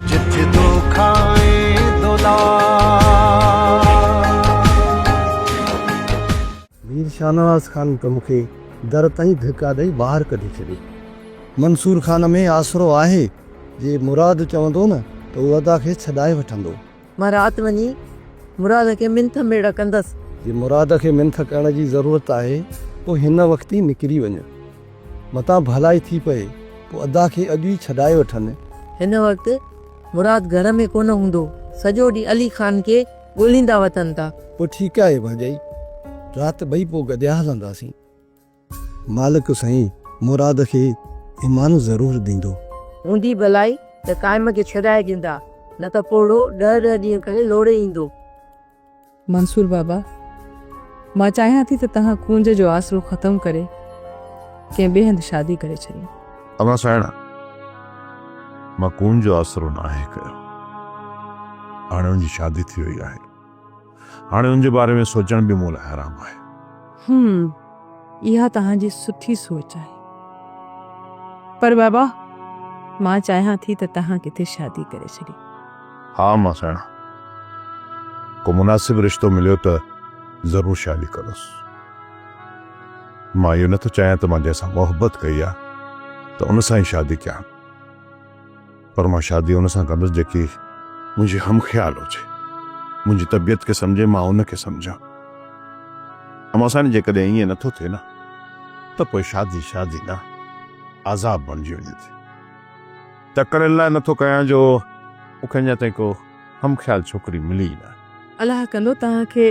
جت دو کائين مير شاهنواز خان ته مون کي در تائين ڌڪا ڏئي ٻاهر ڪڍي ڇڏي. منصور خان ۾ آسرو آهي، جي مراد چوندو نه ته هو ادا کي ڇڏائي وٺندو. مان رات وڃي مراد کي منٿ ميڙ ڪندس. جي مراد کي منٿ ڪرڻ جي ضرورت آهي پوء هن وقت ئي نڪري وڃ. متان ڀلائي ٿي پئي پوء ادا کي اڄ ئي ڇڏائي وٺن. هن وقت مراد گهر ۾ ڪونه هوندو. سڄو ڏينهن علي خان کي ڳوليندا وتن ٿا. پوء ٺيڪ آهي ڀاڄائي. رات ٻئي پوء گڏيا هلنداسين. مالڪ سائين مراد کي ايمان ضرور ڏيندو. هوندي ڀلائي ته قائم کي ڇڏائي ڏيندا نه ته پوڙهو ڏهه ڏهه ڏينهن ڪري لوڙهي ايندو. منصور بابا مان چاهيان ٿي ته توهان ڪونج جو آسرو ختم ڪري ڪنهن ٻئي هنڌ شادي ڪري ڇڏيو. اما سائڻ مان ڪونج جو آسرو ناهي ڪيو هاڻي ان جي شادي ٿي وئي آهي. هاڻي ان جي باري ۾ سوچڻ به مون لاء حرام آهي. هم اها توهان جي سٺي سوچ آهي. پر بابا مان چاهيان ٿي ته توهان ڪٿي شادي ڪري ڇڏي. ها امان سهڻا ڪو مناسب رشتو مليو ته ضرور شادي ڪندس. مان اهو نه ٿو چاهيان ته مان جنهن سان محبت ڪئي آهي ته ان سان ئي شادي ڪيان. پر مان شادي ان سان ڪندس جيڪي منهنجي هم خيال هجي، منهنجي طبيعت کي سمجهي، مان ان کي سمجهان. اما ساڻي جيڪڏهن ائين نه ٿو ٿئي نه ته پوء شادي شادي نه عذاب بڻجي وڃي ٿي. تڪڙين لاء نه ٿو ڪيان جو مون کي اڃا تائين ڪو. هم خيال ڇوڪري ملي ئي نه. الله ڪندو توهان کي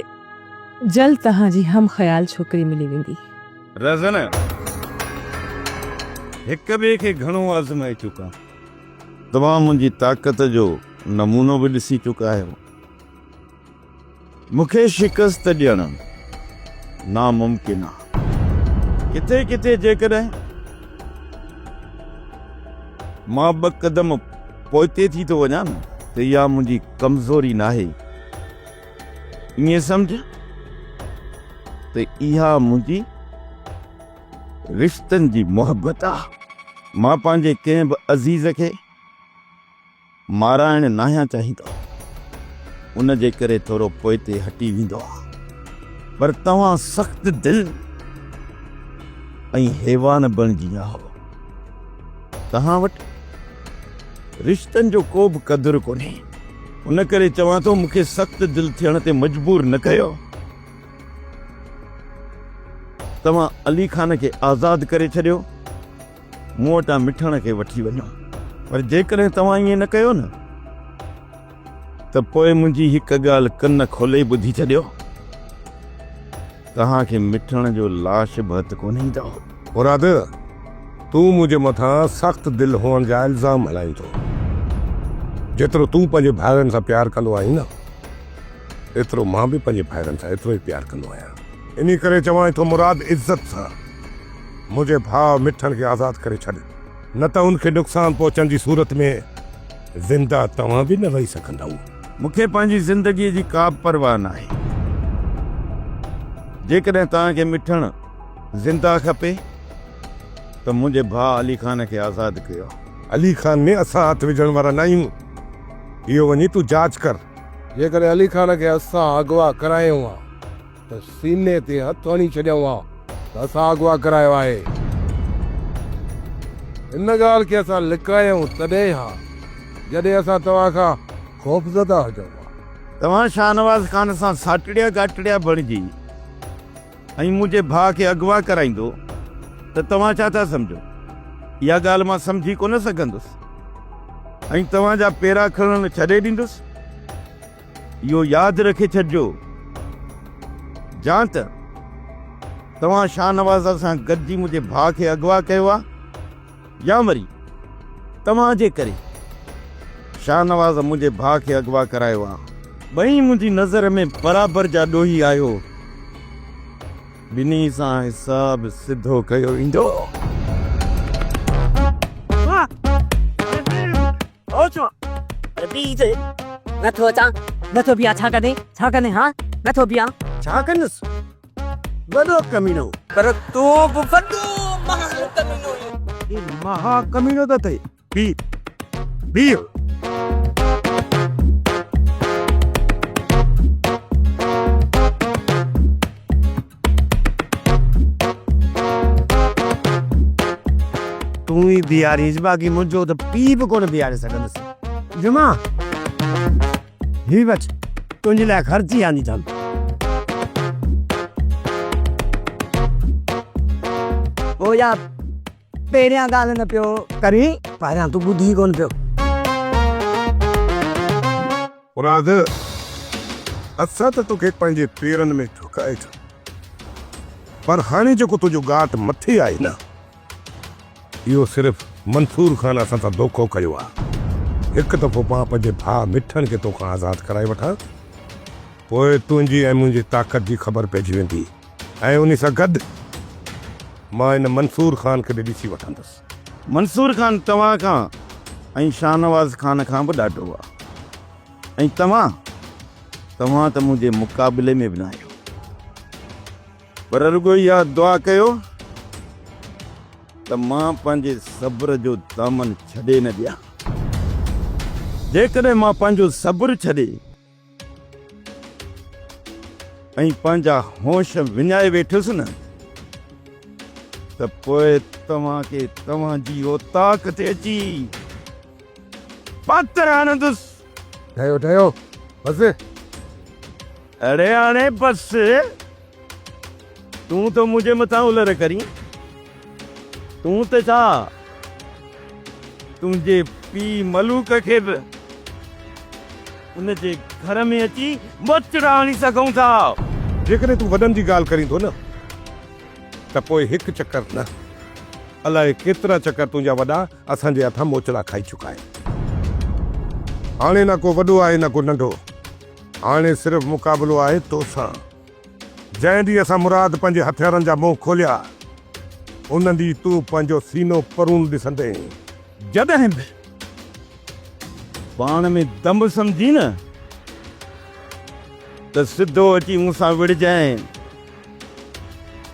جلد توهان جي هم خيال ڇوڪري ملي ويندي. رهزن هڪ ٻئي کي گهڻو آزمائي چڪا آهيون. توهان منهنجي طاقت جو نمونو به ڏسي چڪا آهيو. مون کي شڪست ڏيڻ ناممڪن آ. ڪٿي ڪٿي جيڪڏهن مان ٻه قدم پوئتي ٿي ٿو وڃان نه ته اها منهنجي ڪمزوري ناهي. ائين سمجهه ته اها منهنجي رشتن جي محبت آ. مان پنهنجي ڪنهن به عزيز کي. مارائڻ ناهيان چاهيندو ان جي ڪري ٿورو پوئتي هٽي ويندو آ پر توهان سخت دل ۽ حيوان بڻجي آهو توهان وٽ رشتن جو ڪو به قدر ڪونهي ان ڪري چوان ٿو مون کي سخت دل ٿيڻ تي مجبور نه ڪيو توهان علي خان کي آزاد ڪري ڇڏيو مون وٽان مٺڻ کي وٺي وڃو پر جيڪڏهن توهان ائين نه ڪيو نه ته پوء منهنجي هڪ ڳالهه ڪن کولي ٻڌي ڇڏيو توهان کي مٺڻ جو لاش به هٿ ڪونه ايندو مراد تون منهنجي مٿان سخت دل هئڻ جا الزام هڻائين ٿو جيترو تون پنهنجي ڀائرن سان پيار ڪندو آهين نه ايترو مان به پنهنجي ڀائرن سان ايترو ئي پيار ڪندو آهيان انهي ڪري چوانء ٿو مراد عزت سان منهنجي ڀاء مٺن کي آزاد ڪري ڇڏ، نه ته ان کي نقصان پهچڻ جي صورت ۾ زنده توهان به نه وهي سگهندؤ. مون کي پنهنجي زندگيء جي ڪابه پرواهه ناهي. جيڪڏهن توهان کي مٺن زنده کپي ته منهنجي ڀاء علي خان کي آزاد ڪيو. علي خان ۾ اسان هٿ وجهڻ وارا ناهيون. اهو وڃي تون جاچ ڪر. جيڪڏهن علي خان کي اسان اغوا ڪرايو ها. ته سيني تي هٿ هڻي ڇڏيائون ها ته اسان اغوا ڪرايو آهي. ان ڳالهه کي اسان لڪايائون تڏهن ها جڏهن اسان توهان کان خوفزده هجون ها. توهان شاهنواز خان سان ساٽڙيا گاٽڙيا بڻجي ۽ منهنجي ڀاء کي اغوا ڪرائيندو ته توهان ڇا ٿا سمجهو؟ اها ڳالهه مان سمجهي ڪونه سگهندس ۽ توهان جا پيرا کڻڻ ڇڏي ڏيندس. اهو ياد رکي ڇڏجو جان ته توهان شاهنواز سان گڏجي منهنجي ڀاء کي اغوا ڪيو آهي يا وري توهان جي ڪري شاهنواز منهنجي ڀاء کي اغوا ڪرايو آهي. ٻئي منهنجي نظر ۾ برابر جا ڏوهي آهيو. ٻنهي سان حساب سڌو ڪيو ويندو. ھو ڇو پر بيھج نٿو اچان. نٿو بيھان ڇا ڪندين ڇا ڪندين ھا نٿو بيھان. ڇا ڪندس وڏو ڪمينو. پر تون به وڏو مھا ڪمينو آھين. ھي مھا ڪمينو ته اٿئي بيھ بيھ. تون ئي بيهارينس باقي منهنجو ته پيء به ڪونه بيهاري سگهندس. جمعا! هي وٺ، تنهنجي لاء خرچي آندي اٿم. او يا، پهريان ڳالهه نه پيو ڪرين. پهريان تون ٻڌ ئي ڪونه پيو. مراد! اسان ته توکي پنهنجي پيرن ۾ جهڪائي ڇڏيو، پر هاڻي جيڪو تنهنجو ڳاٽ مٿي آهي نه، اهو صرف منصور خان اسان سان دوکو ڪيو آهي. هڪ دفعو مان پنهنجي ڀاء مٺڻ کي توکان آزاد ڪرائي وٺان، پوء تنهنجي ۽ منهنجي طاقت جي خبر پئجي ويندي ۽ انهي سان گڏ مان ان منصور خان کي به ڏسي وٺندس. منصور خان توهان کان ۽ شاهنواز خان کان به ڏاڍو آ ۽ توهان توهان ته منهنجي مقابلي ۾ به نه آهيو پر رڳو اها دعا ڪيو ته مان پنهنجي صبر جو دامن ڇڏي نه ڏيان جيڪڏهن مان پنهنجو صبر ڇڏي ۽ پنهنجا هوش وڃائي ويٺس نه ته پوء توهان کي توهان جي اوطاق تي اچي پاتر آڻندس ڊهيو ڊهيو بس اڙي هاڻي بس تون ته منهنجي مٿان الر ڪرين، تون ته ڇا تنهنجي پيء ملوڪ کي به ان جي گهر ۾ اچي ٻچڙا آڻي سگهون ٿا. جيڪڏهن تون وڏن جي ڳالهه ڪرين ٿو نه ته پوء هڪ چڪر نه الاء ڪيترا چڪر تنهنجا وڏا اسان جي هٿان موچڙا کائي چڪا آهن. هاڻي نه ڪو وڏو آهي نه ڪو ننڍو، هاڻي صرف مقابلو آهي توسان. جنهن ڏينهن اسان مراد پنهنجي هٿيارن جا منهن کوليا، ان ڏينهن تون پنهنجو سينو پرون ڏسندين. جڏهن به پاڻ ۾ دم سمجهين نه ته سڌو اچي مون سان وڙهجانء،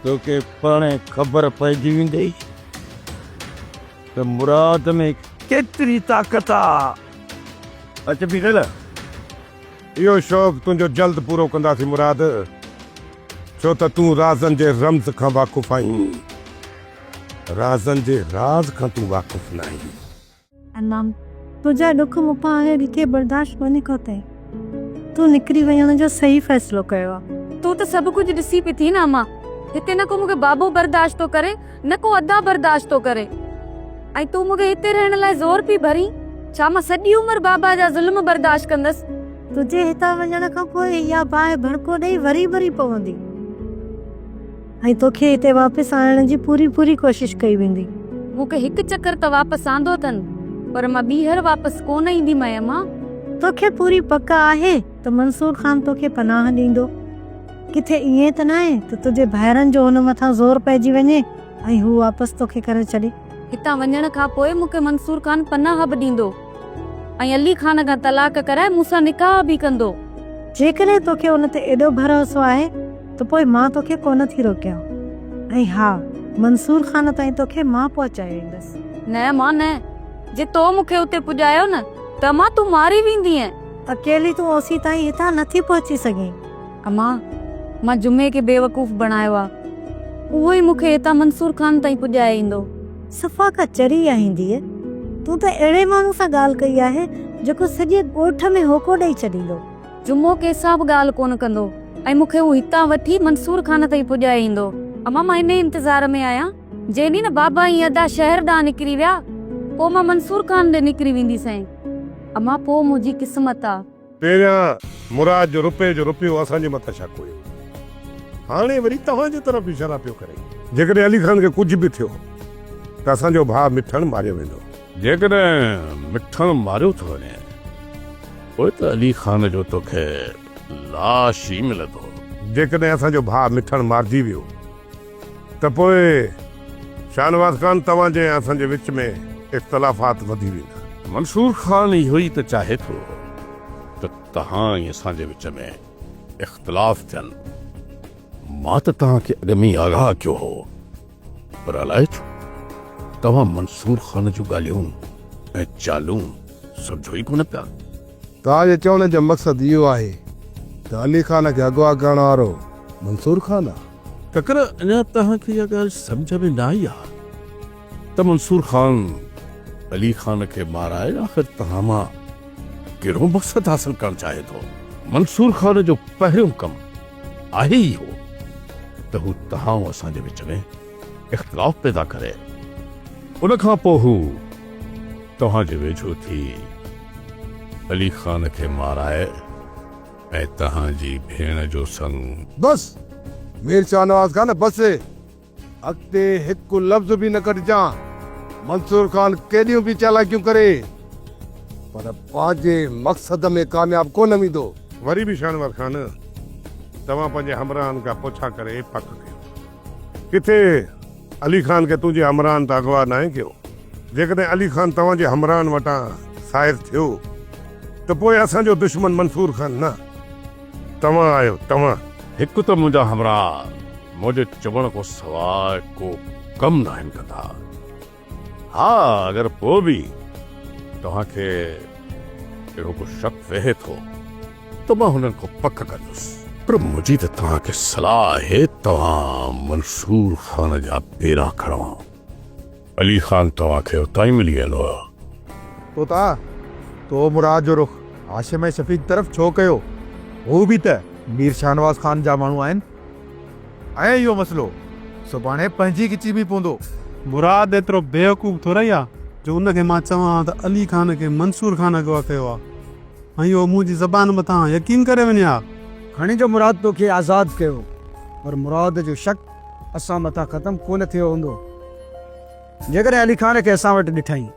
توکي پاڻهي خبر پئجي ويندئي ته مراد ۾ ڪيتري طاقت آ. اچ بيٺل. اهو شوق تنهنجو جلد پورو ڪنداسين مراد، ڇو ته تون رازن جي رمز کان واقف آهين، رازن جي راز کان تون واقف ناهين. امام، تنهنجا ڏک مون کان اهي ڏکي برداشت ڪونهي ڪيو تنهن تون نڪري وڃڻ جو صحيح فيصلو ڪيو آهي. تون ته سڀ ڪجهه ڏسي پئي ٿي نه اماء، هتي نه ڪو مون کي بابو برداشت ٿو ڪري نه ڪو ادا برداشت ٿو ڪري ۽ تون مون کي هتي رهڻ لاء زور پئي ڀرين، ڇا مان سڄي عمر بابا جا ظلم برداشت ڪندس؟ تنهنجي هتان وڃڻ کان پوء اها باهه ڀڻڪو ڏيئي وري ڀري پوندي ۽ توکي هتي واپس آڻڻ جي پوري پوري ڪوشش ڪئي ويندي. مون کي هڪ چڪر ته واپس آندو اٿن پر مان ٻيهر واپس ڪونه ايندي ميمه. توکي پوري پڪ آهي ته منصور خان توکي پناهه ڏيندو؟ ڪٿي ائين ته ناهي ته تنهنجي ڀائرن جو هن مٿان زور پئجي وڃي ۽ هو واپس توکي ڪري ڇڏي. هتان وڃڻ کان پوء مون کي منصور خان پناهه به ڏيندو ۽ علي خان کان طلاق ڪرائي مون سان نڪاح به ڪندو. جيڪڏهن توکي ان تي ايڏو ڀروسو آهي ته پوء مان توکي ڪونه ٿي روڪيان ۽ ها منصور خان تائين توکي مان پهچائي ويندس. نه امان نه. جي تو مون کي اتي پڄايو نه ته امان تون ماري ويندينء. اڪيلي تون اوسين تائين هتان نٿي پهچي سگهين. امان، مان جمعي کي بيوقوف بڻايو آ. اهو ئي مون کي هتان منصور خان تائين پڄائي ايندو. صفا ڪا چري آهين ڌيء. تون ته اهڙي ماڻهو سان ڳالهه ڪئي آهي، جيڪو سڄي ڳوٺ ۾ هوڪو ڏئي ڇڏيندو. جمعو ڪنهن سان به ڳالهه ڪونه ڪندو ۽ مون کي هو هتان وٺي منصور خان تائين پڄائي ايندو. امان، مان انهيء انتظار ۾ آهيان. جي ني نه بابا ۽ ادا شهر ڏانهن نڪري ويا، پوء مان منصور خان ڏي نڪري وينديسين. امان، پوء منهنجي قسمت آ. پهريان مراد جو رپئي جو رپيو اسان جي مٿان شڪ هيو، هاڻي وري توهان جي طرف اشارا پيو ڪري. جيڪڏهن علي خان کي ڪجهه به ٿيو ته اسان جو ڀاء مٺڻ ماريو ويندو. جيڪڏهن مٺڻ ماريو ٿو وڃي پوء ته علي خان جو تو کي لاش ئي ملندو. جيڪڏهن اسان جو ڀاء مٺڻ مارجي ويو. ته پوء شاهنواز خان توهان جي ۽ اسان جي وچ ۾ اختلافات وڌي ويندا. منصور خان اهو ئي ته چاهي ٿو ته توهان ۽ اسان جي وچ ۾ اختلاف ٿين. مان ته توهان کي اڳ ۾ ئي آگاهه ڪيو هو پر الائي ڇو توهان منصور خان جون ڳالهيون ۽ چالون سمجهو ئي ڪونه پيا. توهان جي چوڻ جو مقصد اهو آهي ته علي خان کي اغوا ڪرڻ وارو منصور خان آ؟ ڪڪر، اڃا توهان کي اها ڳالهه سمجهه ۾ نه آئي آهي ته منصور خان علي خان کي مارائي آخر توهان مان ڪهڙو مقصد حاصل ڪرڻ چاهي ٿو؟ منصور خان جو پهريون ڪم آهي ئي اهو ته هو توهان ۽ اسان جي وچ ۾ اختلاف پيدا ڪري. ان کان پوء هو توهان جي ويجهو ٿي علي خان کي مارائي. ۽ تهان جي ڀيڻ جو سڱ. بس! مير شاهنواز خان بس! اڳتي هڪ لفظ به نه ڪڍجان. منصور خان ڪيڏيون به چالاڪيون ڪري پر پنهنجي مقصد ۾ ڪامياب ڪونه ويندو. وري به شاهنواز خان توهان پنهنجي همراهن کان پڇا ڪري پڪ ڪيو. ڪٿي علي خان کي تنهنجي همراهن ته اغوا ناهي ڪيو؟ جيڪڏهن علي خان توهان جي همراهن وٽان سائر ٿيو ته پوء اسان جو دشمن منصور خان نه توهان آهيو، توهان. هڪ ته منهنجا همراهه منهنجي چوڻ کان سواء ڪو ڪم ناهن ڪندا. ها اگر پوء به توهان کي اهڙو ڪو شڪ ويهي ٿو ته مان هنن کان پڪ ڪندس. پر منهنجي ته توهان کي صلاح آهي توهان منصور خان جا پيرا کڻو. علي خان توهان کي اتان ئي ملي ويندو. طوطا! تو مراد جو رخ هاشم ۽ شفيق طرف ڇو ڪيو؟ هو به ته مير شاهنواز خان جا ماڻهو آهن. ۽ اهو مسئلو سڀاڻي پنهنجي ڳچي ۾ پوندو. مراد ايترو بيوقوف ٿورئي آ جو ان کي مان چوان ها ته علي خان کي منصور خان اغوا ڪيو آ ۽ اهو منهنجي زبان مٿان يقين ڪري وڃي ها. کڻي جو مراد توکي آزاد ڪيو پر مراد جو شڪ اسان مٿان ختم ڪونه ٿيو هوندو. جيڪڏهن علي خان کي اسان وٽ ڏٺائين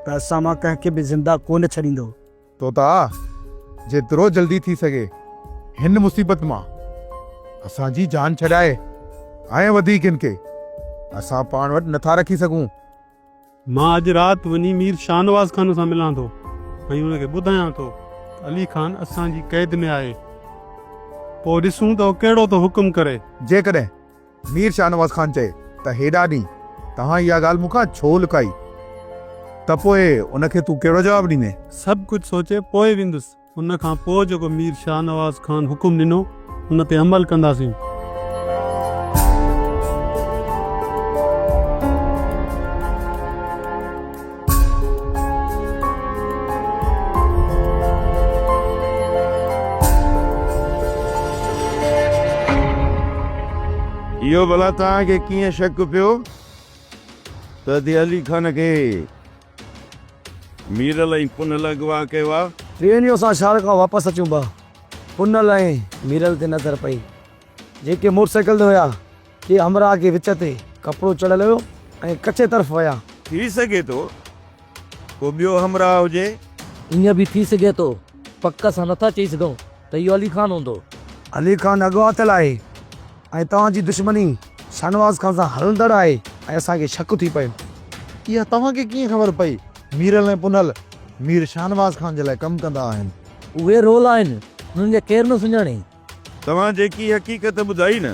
ته اسان مان ڪنهن کي به زنده ڪونه ڇڏيندو. توتا! جيترو جلدي ٿي سگهي هن مصيبت مان اسان جي جان ڇڏاء ۽ وڌيڪ هن کي اسان پاڻ وٽ نه ٿا رکي سگهون. مان اڄ رات وڃي مير شاهنواز خان سان ملان ٿو ۽ هن کي ٻڌايان ٿو ته علي خان اسان جي قيد ۾ آهي. پوء ڏسون ته هو ڪهڙو ٿو حڪم ڪري. جيڪڏهن مير شاهنواز خان چئي ته هيڏا ڏينهن توهان اها ڳالهه مون کان ڇو لڪائي ته پوء ان کي تون ڪهڙو جواب ڏيندين؟ سڀ ڪجهه سوچي پوء ويندس. ان کان پوء جيڪو مير شاهنواز خان حڪم ڏنو، ان تي عمل ڪنداسين. اهو ڀلا توهان کي ڪيئن شڪ پيو ته اتي علي خان کي ميرل ۽ پنهل اغوا ڪيو آهي؟ ٽرينيو اسان شهر کان واپس اچون با پنهل ۽ ميرل تي نظر پئي جيڪي موٽر سائيڪل تي هيا. ڪي همراهه کي وچ تي ڪپڙو چڙهيل هيو ۽ ڪچي طرف ويا. ٿي سگهي ٿو ڪو ٻيو همراهه هجي. ائين به ٿي سگهي ٿو. پڪ سان نٿا چئي سگهون ته اهو علي خان هوندو. علي خان اڳواٽيل آهي ۽ توهان جي دشمني شاهنواز خان سان هلندڙ آهي ۽ اسان کي شڪ ٿي پيو. اها توهان کي ڪيئن خبر پئي؟ ميرل ۽ پنهل مير شاهنواز خان جي لاء ڪم ڪندا آهن. اهي رول آهن، انهن کي ڪير نه سڃاڻي. توهان جيڪي حقيقت ٻڌائي نه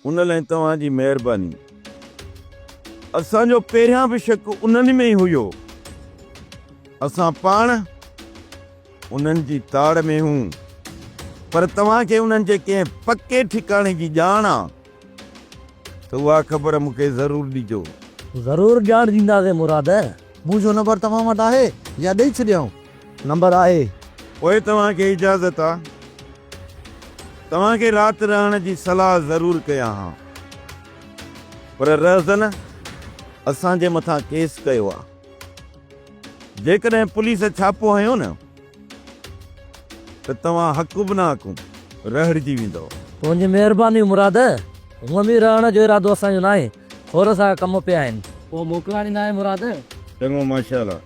ان لئه توهان جي مهرباني. اسان جو پهريان به شڪ انهن ۾ ئي هيو. اسان پاڻ انهن جي تاڙ ۾ هون پر توهان کي انهن جي ڪنهن پڪي ٺڪاڻي جي ڄاڻ آ. ته اها خبر مون کي ضرور ڏجو. ضرور ڄاڻ ڏينداسين مراد. منهنجو نمبر توهان وٽ آهي يا ڏئي ڇڏيائون؟ نمبر آهي. پوء توهان کي اجازت آ. توهان کي رات رهڻ جي صلاح ضرور ڪيان ها. پر رهزن اسان جي مٿان ڪيس ڪيو آ. جيڪڏهن پوليس ڇاپو هنيو نه. ته توهان حق به نه حقون رهڙجي ويندؤ. تنهنجي مهرباني مراد! هونء به رهڻ جو ارادو اسان جو ناهي، ٿورا سا ڪم پيا آهن. ڪو موڪلاڻي ناهي مراد! چڱو ماشاءالله.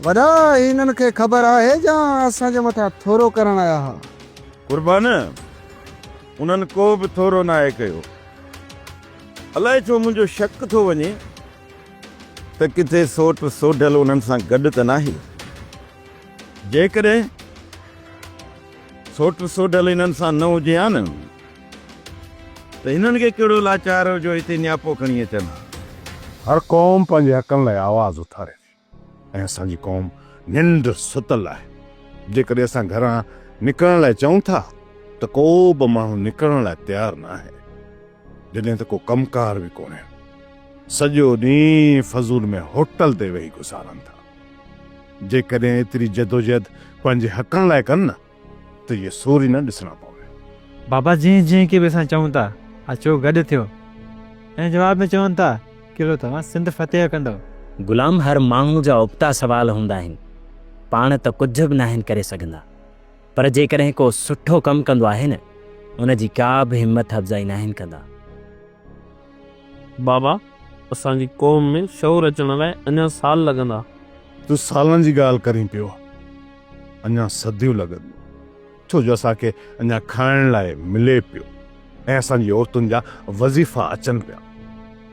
وڏا هنن کي خبر آهي جا اسان جي مٿان ٿورو ڪرڻ آيا ها. قربان! انهن ڪو به ٿورو ناهي ڪيو. الائي ڇو منهنجو شڪ ٿو وڃي. ته ڪٿي سوٽ سوڍل انهن سان گڏ ته ناهي. جيڪڏهن سوٽ سوڍل انهن سان نه هجي ها نه ته هنن کي ڪهڙو لاچار هو جو هتي نياپو کڻي اچن ها. هر قوم پنهنجي حقن لاء آواز اٿاري ٿي. ۽ اسان جي قوم ننڊ ستل آهي، جيڪڏهن اسان گهران نڪرڻ لاء چئون ٿا ته ڪو به ماڻهو نڪرڻ لاء تيار نه آهي، جڏهن ته ڪو ڪم ڪار به ڪونهي، سڄو ڏينهن فضول ۾ هوٽل تي ويهي گذارن ٿا، جيڪڏهن ايتري جدوجهد پنهنجي حقن لاء ڪن نه ته اهي سور ئي نه ڏسڻا پوين. بابا جنهن جنهن کي به اسان چئون ٿا اچو گڏ ٿيو ۽ جواب ۾ چون ٿا قلعو توهان سنڌ فتح ڪندؤ. غلام هر ماڻهو جا ابتا سوال هوندا آهن پاڻ ته ڪجهه به ناهن ڪري سگهندا پر جيڪڏهن ڪو سٺو ڪم ڪندو آهي نه ان جي ڪا به همت افزائي ناهن ڪندا. بابا اسان جي قوم ۾ شعور اچڻ لاء اڃان سال لڳندا. تون سالن جي ڳالهه ڪرين پيو. اڃا صديون لڳنديون ڇو جو اسان کي اڃا کائڻ لاء ملي پيو ۽ اسان جي عورتن جا وظيفا اچن پيا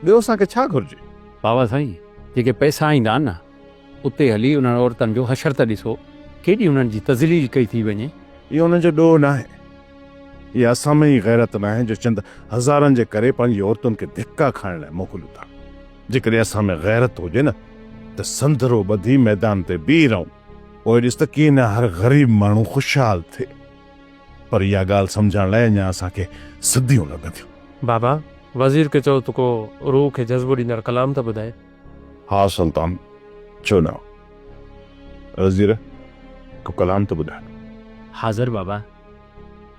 ٻيو اسان کي ڇا گهرجي. بابا سائين جيڪي پئسا آئيندا آھن نه اتي ھلي انھن عورتن جو حشر ته ڏسو ڪيڏي انھن جي تذليل ڪئي ٿي وڃي. اھو انھن جو ڏوھ ناھي اھا اسان ۾ ئي غيرت ناھي جو چند ھزارن جي ڪري پنھنجي عورتن کي ڌڪا کائڻ لاء موڪليون ٿا. جيڪڏهن اسان ۾ غيرت هجي نه ته سندرو ٻڌي ميدان تي بيهي رهون. پوء ڏس ته ڪيئن نه هر غريب ماڻهو خوشحال ٿئي. پر اها ڳالهه سمجهڻ لاء اڃا اسان کي صديون لڳنديون. بابا، وزير کي چئو ته ڪو روح کي جذبو ڏيندڙ ڪلام ته ٻڌائي. ها سلطان، ڇو نه. وزير، ڪو ڪلام ته ٻڌاء. حاضر بابا.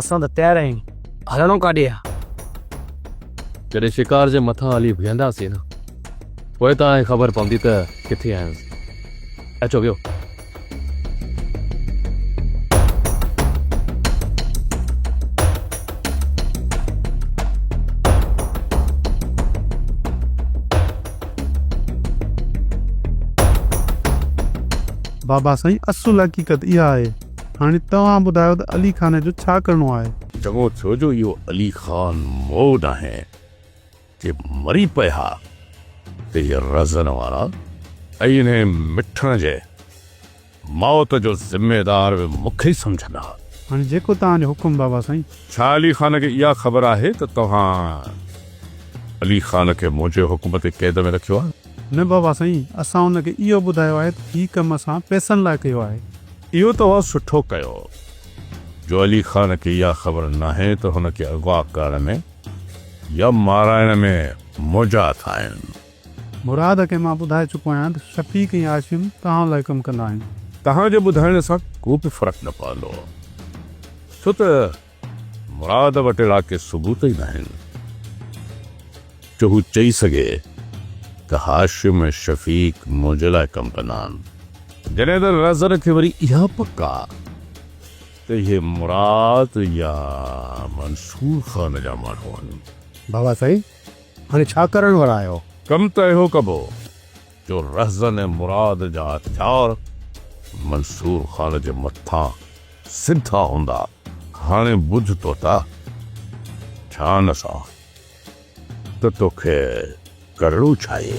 اسان ته تيار آهيون، هلڻو ڪاڏي آ؟ جڏهن شڪار جي مٿان هلي بيهنداسين نه، پوء تان کي خبر پوندي ته ڪٿي آهيون سين. اچو ويهو. بابا سائين اصل حقيقت اها آهي. هاڻي توهان ٻڌايو ته علي خان جو ڇا ڪرڻو آهي؟ چڱو ٿيو جو اهو علي خان مئو ناهي جي مري پئي ها ته اهي رزن وارا ۽ انهي مٺڻ جي موت جو ذميدار به مون کي ئي سمجهن ها. هاڻي جيڪو توهان جو حڪم بابا سائين. ڇا علي خان کي اها خبر آهي ته توهان علي خان کي منهنجي حڪم تي قيد ۾ رکيو آهي؟ نه بابا سائين، اسان هن کي اهو ٻڌايو آهي ته هي ڪم اسان پئسن لاء ڪيو آهي. اهو توهان سٺو ڪيو جو علي خان کي اها خبر ناهي ته هن کي اغوا ڪرڻ ۾ يا مارائڻ ۾ موجا اٿائين. مراد کي مان ٻڌائي چڪو آهيان ته شفيق ۽ هاشم توهان لاء ڪم ڪندا آهن. توهان جي ٻڌائڻ سان ڪو به فرق نه پوندو ڇو ته. مراد وٽ اهڙا ڪي ثبوت ئي ناهن جو هو چئي سگهي ته هاشم ۽ شفيق منهنجي لاء ڪم ڪندا آهن. جڏهن ته رزن کي وري اها پڪ آ ته اهي مراد يا منصور خان جا ماڻهو آهن. بابا سائين هاڻي ڇا ڪرڻ وارا آهيو؟ ڪم ته اهو ڪبو. جو رهزن ۽ مراد جا هٿيار منصور خان جي مٿان سڌا هوندا. هاڻي ٻڌ طوطا، ڌيان سان ته توکي ڪرڻو ڇاهي؟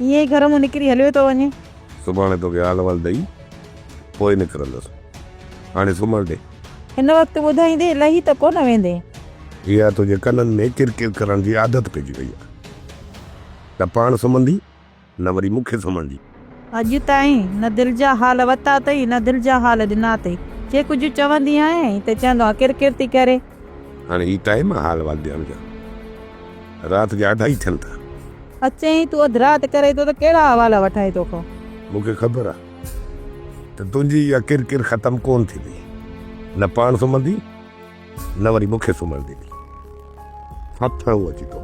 ائين ئي گهر مان نڪري هليو ٿو وڃي. سڀاڻي توکي حال احوال ڏئي پوء نڪرندس. هاڻي سمهڻ ڏي. هن وقت ٻڌائيندين لهي ته ڪونه ويندين. اها تنهنجي ڪنن ۾ ڪر ڪر ڪرڻ جي عادت پئجي وئي آهي. نه پاڻ سمهندي نه وري مون کي سمهڻدي. اڄ تائين نه دل جا حال وتا اٿئي نه دل جا حال ڏنا اٿئي. جي ڪجهه چوندي آهيان ته چوندو آهي ڪر ڪر ٿي ڪري. هاڻي هي ٽائيم آ حال وال ڏيڻ جو رات جا اڍائي ٿين ٿا. اچين تون اڌ رات ڪرين ٿو ته ڪهڙا حوالا وٺائين تو کان. مون کي خبر آ ته تنهنجي اها ڪر ڪر ختم ڪون ٿيندي نه پاڻ سمهندي نه وري مون کي سمهڻ ڏيندي. هٿ هو اچي تو.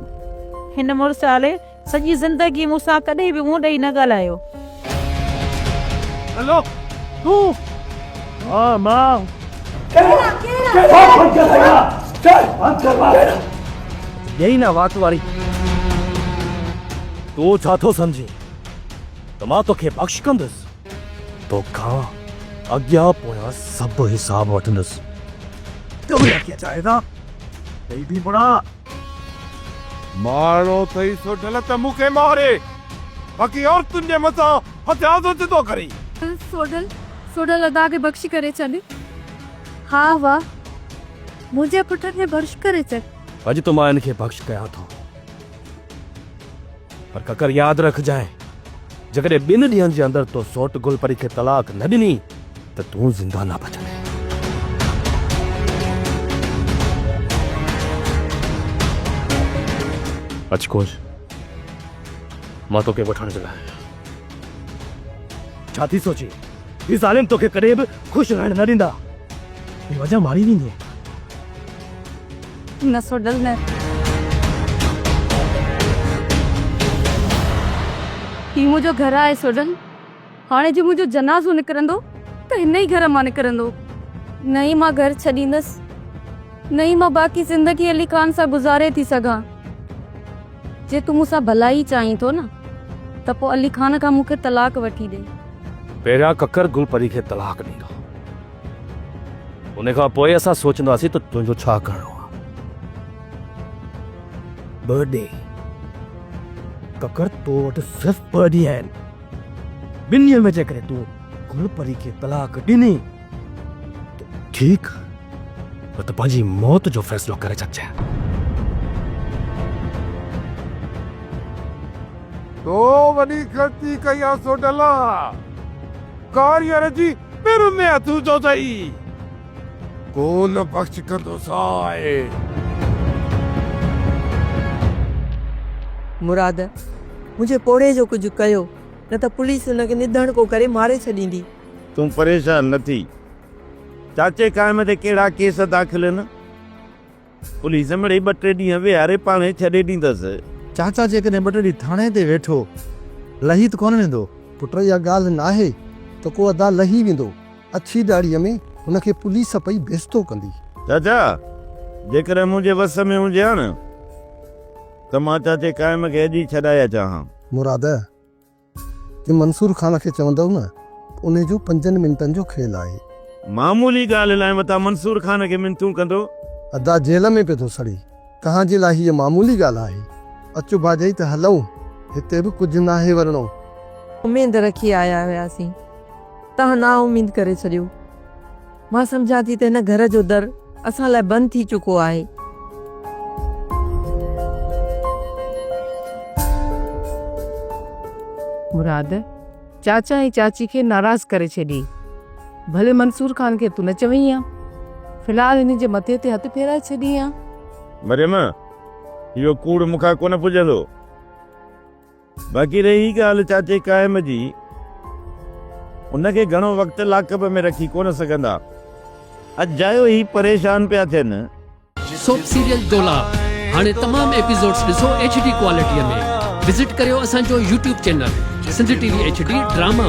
هن مڙس آلي سڄي زندگي مون سان ڪڏهن به منهن ڏئي نه ڳالهايو. هلو تون ها مان. ڏيئي نه وات واري. تون ڇا ٿو سمجهين ته مان توکي بخش ڪندس. توکان اڳيان پويان سڀ حساب وٺندس. ڪمري اکيان چاهي ٿا. ڪئي ٿي پڙهان. مارڻو ٿئي سو ڍل ته مون کي ماري، باقي عورتن جي مٿان هٿيار ٿو چتو ڪرين. سو ڍل، سو ڍل ادا کي بخشي ڪري ڇڏ. ها واء، منهنجي پٽ کي بخش ڪري ڇڏ. اڄ ته مان هن کي بخش ڪيان ٿو. پر ڪڪر ياد رکجانء، جيڪڏهن ٻن ڏينهن جي اندر تو سوٽ گل پري کي طلاق نه ڏني ته تون زنده نه بچندين. اچ ڪوش، مان توکي وٺڻ جي لاء آهيان. ڇا ٿي سوچين؟ هي ظالم توکي ڪڏهن به خوش رهڻ نه ڏيندا. بي وجهه ماري ويندين. نسو ڊل نه. هي منهنجو گهر آهي سوڍل. هاڻي جي منهنجو جنازو نڪرندو ته هن ئي گهر مان نڪرندو. نه ئي مان گهر ڇڏيندس. نه ئي مان باقي زندگي علي خان سان گذاري ٿي سگهان. جي تون مون سان ڀلائي چاهين ٿو نه ته پوء علي خان کان مون کي طلاق وٺي ڏي. پهريان ڪڪر گل پري کي طلاق ڏيندو. ان کان پوء اسان سوچنداسين ته تنهنجو ڇا ڪرڻو آ. ٻه ڏينهن ڪڪر تو وٽ صرف ٻه ڏينهن آهن. ٻن ڏينهن ۾ جيڪڏهن تون گل پري کي طلاق ڏني ته ٺيڪ آ نه ته پنهنجي موت جو فيصلو ڪري ڇڏجانء. تو وڏي غلطي ڪئي آ سوڍلا. ڪاريئر جي پھر ۾ اٿو ٿو ته ئي ڪو نه بخش ڪندو سائين. مراد، منھنجي پوڙھي جو ڪجهه ڪيو، نه ته پوليس ان کي نڌڻڪو ڪري ماري ڇڏيندي. تون پريشان نه ٿي. چاچي قائم تي ڪهڙا ڪيس داخل هن؟ پوليس مڙئي ٻه ٽي ڏينهن ويهاري پاڻهي ڇڏي ڏيندس. چاچا جيڪڏهن ٻه ٽي ڏينهن ٿاڻي تي ويٺو لهي ته ڪونه ويندو؟ پٽ اها ڳالهه ناهي ته ڪو ادا لهي ويندو. اڇي ڏاڙهيء ۾ هن کي پوليس پئي بيستو ڪندي. چاچا جيڪڏهن منهنجي وس ۾ هجي ها نه ته مان چاچي قائم کي اڄ ئي ڇڏائي اچان ها. مراد ته منصور خان کي چوندؤ نه انهي جو پنجن منٽن جو کيل آهي. معمولي ڳالهه لاء متان منصور خان کي منٿون ڪندو. ادا جيل ۾ پئي ٿو سڙي. توهان جي لاء هيء معمولي ڳالهه آهي. اچو ڀاڄائي ته هلئون. هتي به ڪجهه ناهي ورڻو. اميد رکي آيا هياسين. تهان نااميد ڪري ڇڏيو. مان سمجهان ٿي ته هن گهر جو در اسان لاء بند ٿي چڪو آهي. مراد، چاچا ۽ چاچي کي ناراض ڪري ڇڏي. ڀلي منصور خان کي تون نه چوين ها. في الحال هن جي مٿي تي هٿ ڦيرائي ڇڏين ها. مريم، اهو ڪوڙ مون کان ڪونه پڄندو. باقي رهي ڳالهه چاچي قائم جي، ان کي گهڻو وقت لاڪ اپ ۾ رکي ڪونه سگهندا، اجايو هي پريشان پيا ٿين. سوپ سيريل دولاب هاڻي تمام ايپيسوڊز ڏسو ايڇ ڊي ڪوالٽي ۾ وزٽ ڪريو اسان جو YouTube channel Sindh TV H D drama.